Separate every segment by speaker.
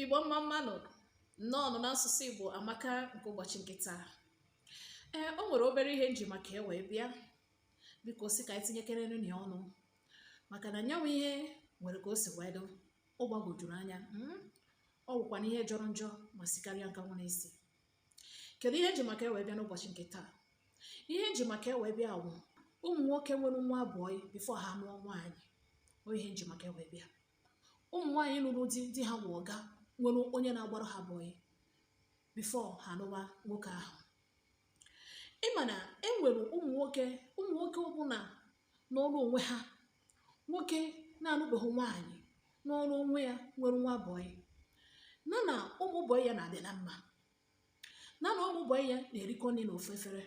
Speaker 1: Igbo mma mmanụ nnọọ nụ n'asụsụ Igbo amaka nke ụbọchị nke taa ee o nwere obere ihe nji maka e wee bịa biko si ka anyị tinyekerenụ ọnụ maka na nya wụ ihe nwere ka o si wee dụ ọ gbagwojuru anya hmm? ọ wụkwa na ihe jọrọ njọ ma sikarịa nkakwụ n'isi kedu ihe nji maka e wee bịa n'ụbọchị nke taa ihe nji maka e wee bịa wụ ụmụ nwoke nwere nwa bọyị bifo ha nụọ nwaanyị ọ ihe nji maka e wee bịa ụmụ nwaanyị nụrụ di di ha wụ ọga nwere onye na-agbara ha bọyị bifo ha nụwa nwoke ahụ ịma na e nwere ụmụ nwoke ụmụ nwoke ọbụla nọrụ onwe ha nwoke na-anụbeghị nwaanyị nọrụ onwe ya nwere nwa bọyị na na ụmụ bọyị ya na-adị na mma na na ụmụ bọyị ya na-erikọ nri n'ofu efere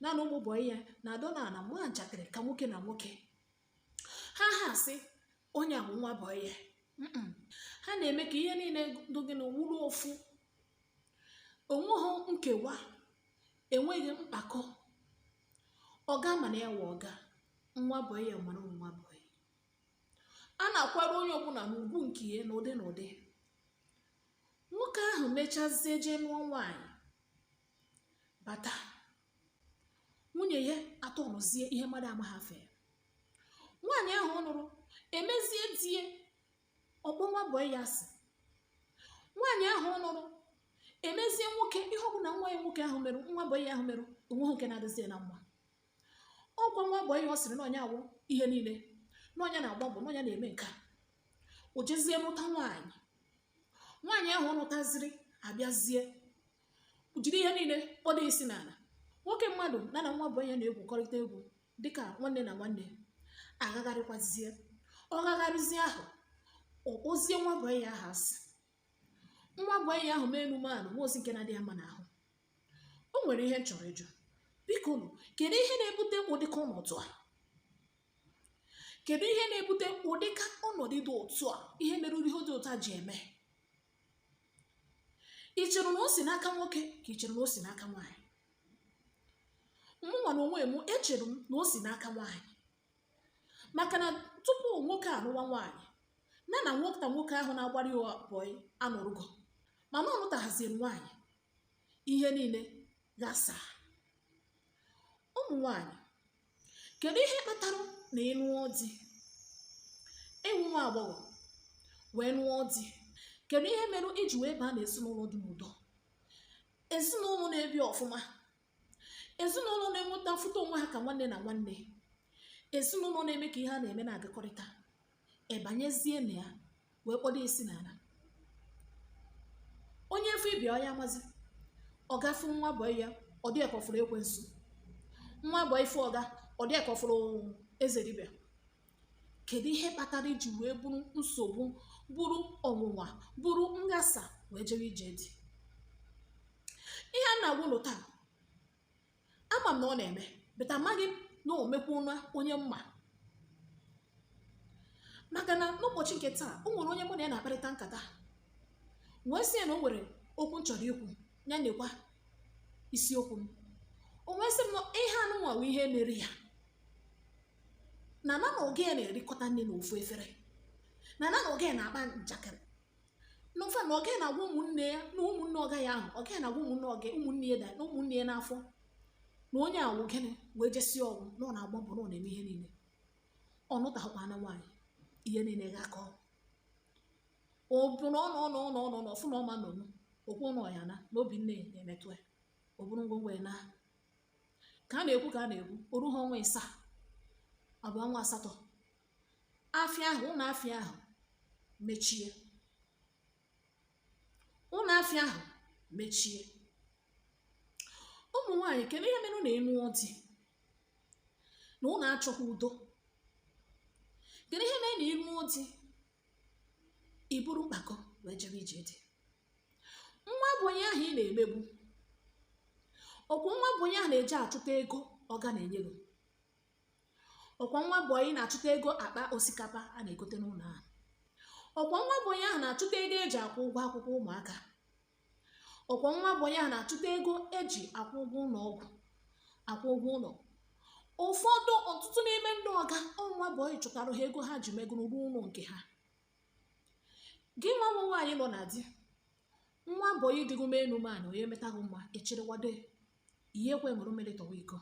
Speaker 1: na na ụmụ bọyị ya na-adọ na nwa njakịrị ka nwoke na nwoke ha ha sị onye bụ nwa bọyị ya ha na-eme ka ihe niile dị gị na wụrụ ofu onweghị nkewa enweghị mkpakọ ọga ma na ya wụ ọga nwa bọyị ya mara nwa bọyị a na-akwara onye ọbụla n'ugwu nke ya n'ụdị n'ụdị nwoke ahụ mechazie jee nụọ nwaanyị bata nwunye ya atọnụzie ihe mmadụ amaghị afa ya nwaanyị ahụ ọ nụrụ emezie di e ọ kpọ nwa bọyị ya asị nwaanyị ahụ ọ nụrụ emezie nwoke ihe ọ bụla nwa ya nwoke ahụ merụ nwa bọyị ya ahụ merụ onweghị nke na-adịzi ya na mma ọkwa nwa bọyị ya ọ sịrị na ọ nya wụ ihe niile na ọ nya na-agba mbọ na ọ nya na-eme nke a o jezie nụta nwaanyị nwaanyị ahụ ọ nụtaziri abịazie jiri ihe niile kpọdo isi n'ala nwoke mmadụ na na nwa bọyị ya na-egwukọrịta egwu dịka nwanne na nwanne agagharịkwazie ọ gagharịzie ahụ ọ kpọzie nwa bọyị ya ahụ asị nwa bọyị ya ahụ mee enu mee ana o nwezi nke na-adị ya mma n'ahụ o nwere ihe m chọrọ ịjụ biko nụ kedu ihe na-ebute ụdịka ọnọdụ a kedu ihe na-ebute ụdịka ọnọdụ dị otu a ihe mere ihe dị otu a ji eme ị chere na o si n'aka nwoke ka ị chere na o si n'aka nwaanyị mụnwa na onwe m echere m na o si n'aka nwaanyị maka na tupu nwoke anụwa nwaanyị na na nwata nwoke ahụ na-agbara ya bọyị anọrụgo mana ọ nụtaghaziri nwaanyị ihe niile ghasaa ụmụ nwaanyị kedu ihe kpatara na ị nụọ di ị wụ nwa agbọghọ wee nụọ di kedu ihe mere i ji wee baa na ezinụlọ dị n'udo ezinụlọ na-ebi ọfụma ezinụlọ na-enweta mfụta onwe ha ka nwanne na nwanne ezinụlọ na-eme ka ihe a na-eme na-agakọrịta ị banyezie na ya wee kpọdo isi n'ala onye fụ ibe ya ọya amazi ọga fụ nwa bọị ya ọ dị ka ọ fụrụ ekwensu nwa bọị fụ ọga ọ dị ka ọ fụrụ eze dibịa kedu ihe kpatara i ji wee bụrụ nsogbu bụrụ ọnwụnwa bụrụ nghasa wee jewe ije di ihe m na-agwa unu taa ama m na ọ na-eme but amaghị m na o mekwuna onye m ma maka na n'ụbọchị nke taa o nwere onye mụ na ya na-akparịta nkata wee sị ya na o nwere okwu m chọrọ ikwu ya nekwa isiokwu m o wee sị m na ihe anụnwa bụ ihe mere ya na na na ọga ya na-erikọta nni na ofu efere na na na ọga ya na-akpa njakịrị na in fact na ọga ya na-agwa ụmụnne ya na ụmụnne ọga ya ahụ ọga na-agwa ụmụnne ọga ụmụnne ya na ụmụnne ya n'afọ na onye awụ gịnị wee jesi ọgwụ na ọ na-agba mbọ na ọ na-eme ihe niile ọ nụtahụkwa na nwaanyị ihe niile ga-akọ ọ bụ na ọ fụ na ọ ma nọnwu o kwuo na ya na n'obi nne ya na-emetụ ya o buru ngwongwo ya naa ka a na-ekwu ka a na-ekwu o ruha ọnwa ịsaa ọ bụ ọnwa asatọ afịa ahụ ụlọ afịa ahụ mechie ụlọ afịa ahụ mechie ụmụ nwaanyị kedu ihe mere na ị nụọ di na unu achọghị udo kedu ihe mere na ị nụọ di i buru mpako wee jebe ije di nwa bọị ahụ ị na-emegbu ọkwa nwa bọị ahụ na-eje achụta ego ọga na-enye gị ọkwa nwa bọị na-achụta ego akpa osikapa a na-egote n'ụlọ ahụ ọkwa nwa bọị ahụ na-achụta ego e ji akwụ ụgwọ akwụkwọ ụmụaka ọkwa nwa bọị ahụ na-achụta ego e ji akwụ ụgwọ ụlọ ọgwụ akwụ ụgwọ ụlọ ụfọdụ ọtụtụ n'ime ndị ọga ọ nwa bọị chụtara ha ego ha ji megoro rụọ ụlọ nke ha gị nwa nwaanyị nọ na di nwa bọị dịgo m enu man onye metaghị mma echịrịwado ihe ekwe ṅụrụ mmiri tọwa iko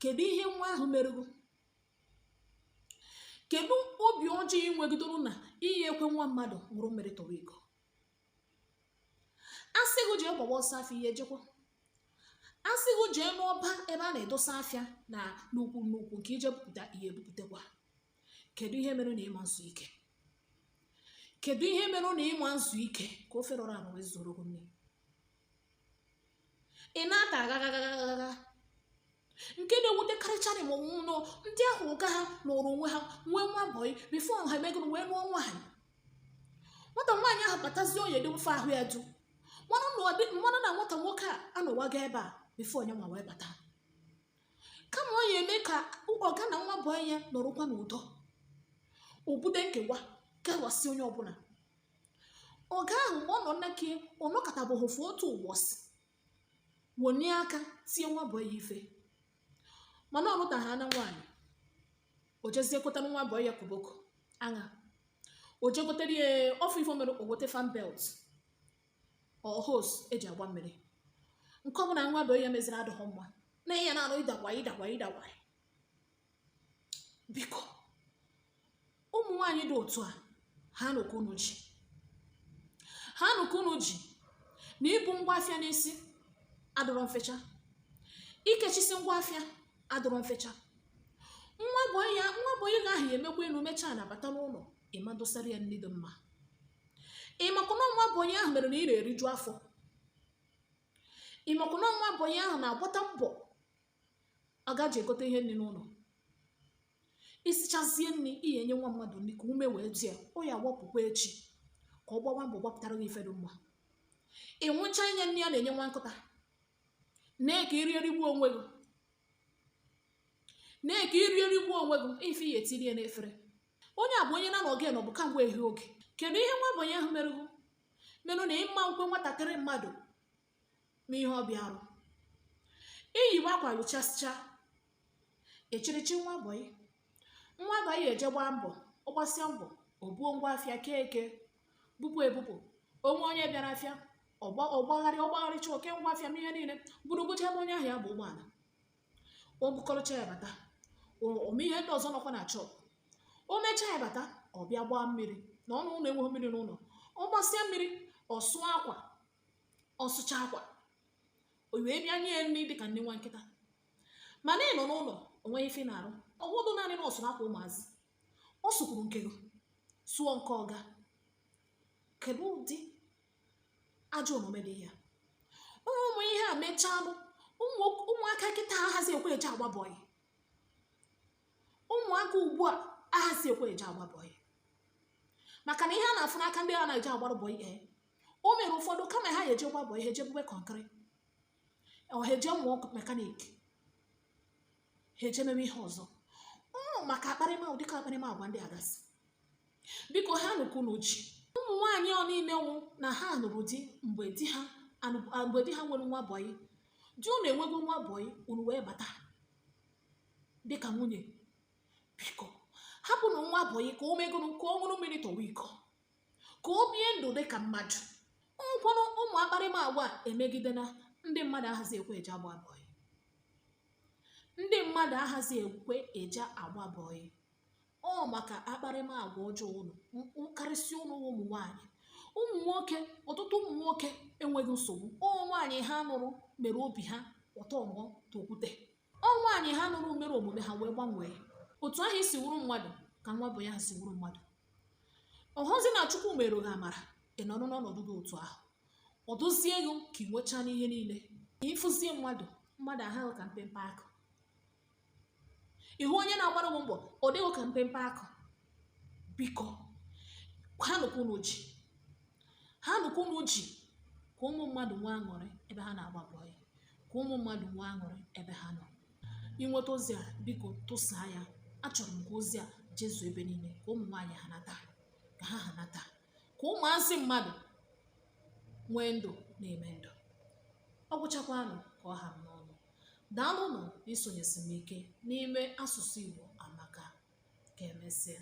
Speaker 1: kedu ihe nwa ahụ merụ gị kedu obi ọjọọ ị nwegidoro na ihe ekwe nwa mmadụ ṅụrụ mmiri tọwa iko a sị gị jee gbawa ọsọ afịa ihe ejekwa a sị gị jee n'ọba ebe a na-edosa afịa na n'ukwu n'ukwu nke i je bupụta ihe ebupụtakwa kedu ihe mere na ị ma nzu ike kedu ihe mere na ị ma nzu ike ka ofe rọrọ arọ wee zuru gị nni ị na-ata agagagagagaga nke na-ewutekarịcha m wụ nnọọ ndị ahụ ọga ha nọrọ onwe ha nwee nwa bọyị bifo ha emegoro wee lụọ nwaanyị nwata nwaanyị ahụ batazie onye dị mfe ahụ ya du marụ na nwata nwoke a anọwago ebe a bifo nya nwa wee bata kama ọ ya eme ka ọga na nwa bọyị ya nọrọkwa n'udo o bude nkewa kewasị onye ọbụla ọga ahụ mgbe ọ nọ nnake ọ nọkatabụghị ofu otu ụbọchị wonie aka tie nwa bọyị ya ife mana ọ lụta gị na nwaanyị o jezie kotara nwa bọyị ya koboko aṅa o je gotere ya ọ fụ ife o mere o gote fan belt or hose eji agba mmiri nke ọbụla nwa bọyị ya meziri adịghị mma na ihe na-anụ ịdakwa ịdakwa ịdakwa biko ụmụ nwaanyị dị otu a hanụ aka unu ji hanụ aka unu ji na ibu ngwa afịa n'isi adịrọ mfecha ikechisi ngwa afịa adịrọ mfecha nwa bọyị nwa bọyị gị ahụ ya emekwa elu mechaa ana bata n'ụlọ ị ma dosara ya nri dị mma ị makwa na ọ nwa bọyị ahụ mere na ị na-eriju afọ ị makwa na ọ nwa bọyị ahụ na-agbata mbọ ọga ji egote ihe nri n'ụlọ i sichazie nri ị ya enye nwa mmadụ nri ka ume wee dị ya ọ ya gbapụkwa echi ka ọ gbawa mbọ gbapụtara gị ife dị mma ịnwụcha enye nri a na-enye nwa nkụta naa ka i rie rigbu onwe gị naa ka i rie rigbu onwe gị ife ị ya etinye n'efere onye a bụ onye na na oge nọbụ kamgbe ehi oge kedu ihe nwa bọyị ahụ mere gị mere na ị ma ekwe nwatakịrị mmadụ ma ihe ọ bịa arụ i yiwe akwa yụchasịcha echirichi nwa bọyị nwa bọyị eje gbaa mbọ ọ gbasịa mbọ o buo ngwa afịa kee eke bupụ ebupụ o nwee onye bịara afịa ọ gba ọ gbagharị ọ gbagharịcha o kee ngwa afịa mee ihe niile gburugburu ebe onye ahụ ya aba ụgbọala o bukọrọcha ya bata o- o mee ihe ndị ọzọ nọkwa na shop o mechaa ya bata ọ bịa gbaa mmiri na ọnụ ụlọ enweghị mmiri n'ụlọ ọ gbasịa mmiri ọ sụọ akwa ọ sụcha akwa o wee bịa nye ya nri dịka nri nwa nkịta mana ị nọ n'ụlọ o nweghị ife ị na-arụ ọ bụrọ naanị na ọ sụrụ akwa ụmụazị ọ sụkwuru nke gị sụọ nke ọga kedu ụdị ajọ omume dị ya ụmụ ihe a mechalụ ụmụaka kịta ahazi ekwe eje agba bọyị ụmụaka ugbu a ahazi ekwe eje agba bọyị maka na ihe a na-afụ n'aka ndị ha na-eje agbara bọyị ee o mere ụfọdụ kama ha ya eje gba bọyị ha eje bube kọnkịrị ọ ha eje mụọ mekanik ha eje mewe ihe ọzọ ọ maka akparịma dịka akparịmagwa ndị a gasị biko hanụ aka unu ji ụmụ nwaanyị ọ niile nwụ na ha nụrụ di mgbe di ha anụ- a- mgbe di ha nwere nwa bọyị di unu enwego nwa bọyị unu wee bata dịka nwunye biko hapụnụ nwa bọyị ka o megoro ka ọ ṅụrụ mmiri tọwa iko ka o bie ndụ dị ka mmadụ ụfọdụ ụmụ akparịma agwa emegide na ndị mmadụ ahazi ekwe eje agba bọyị ndị mmadụ ahazi ekwe eje agba bọyị ọ maka akparịma agwa ọjọọ unu karịsịa unu ụmụ nwaanyị ụmụ nwoke ọtụtụ ụmụ nwoke enweghị nsogbu ọ wụ nwaanyị ha nụrụ mere obi ha ọtọ mụọ tokwute Ọ nwaanyị ha nụrụ mere omume ha wee gbanwee otu ahụ i si wụrụ mmadụ ka nwa bọyị ahụ si wụrụ mmadụ ọ wụzi na Chukwu meere gị amara ị nọrọ n'ọnọdụ dị otu ahụ ọ dịzie gị ka ị nwechaana ihe niile ị fụzie mmadụ mmadụ aha gị ka mpempe akụ ị hụ onye na-agbara gị mbọ ọ dị gị ka mpempe akụ biko ha nụkwa unu ji ha nụkwa unu ji ka ụmụ mmadụ nwee aṅụrị ebe ha na-agba bọyị ka ụmụ mmadụ nwee aṅụrị ebe ha nọ i nweta ozi a biko tụsaa ya achọrọ m ka ozi a jezuo ebe niile ka ụmụ nwaanyị hanata ka ha hanata ka ụmụazị mmadụ nwee ndụ na-eme ndụ ọ gwụchakwanụ ka ọ ha m n'ọnụ Daalụnụ n'isonyesi m ike n'ime asụsụ Igbo amaka. Ka emesịa.